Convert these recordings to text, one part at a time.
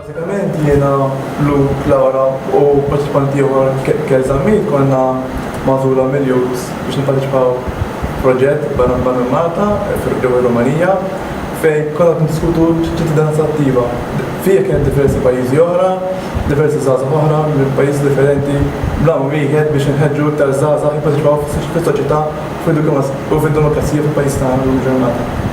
Bażikament jiena, Luke, Laura u parteċipanti ieħor Kel Zammit konna magħżula mill-youths biex nipparteċipaw f'proġett barra minn Malta ġewwa r-Rumanija fejn konna niddiskutu ċittadinanza attiva. Fih kien diversi pajjiżi oħra, diversi żgħażagħ oħra minn pajjiżi differenti bl-għan wieħed biex inħeġġu iktar żgħażagħ jipparteċipaw fis-soċjetà u fid-demokrazija fil-pajjiż tagħna llum il-ġurnata.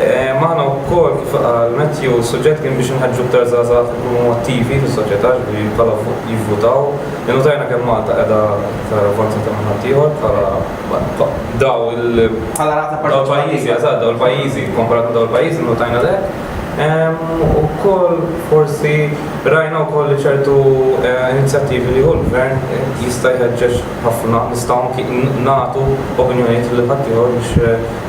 Magħna wkoll kif qal Matthew, suġġett kien biex inħeġġu aktar żgħażagħ ikunu attivi fis-soċjetà ġifieri bħala jivvutaw. Innotajna kemm Malta qiegħda aktar avvanzata minn ħaddieħor bħala daw il Bħala rata parteċipattiva. Eżatt, daw il-pajjiżi, kkomparat ma' daw il-pajjiżi innotajna l-hekk. Ukoll forsi rajna wkoll li ċertu inizjattivi li jieħu l-Gvern jista' jħeġġeġ ħafna, nistgħu anki nagħtu opinjonijiet lil ħaddieħor biex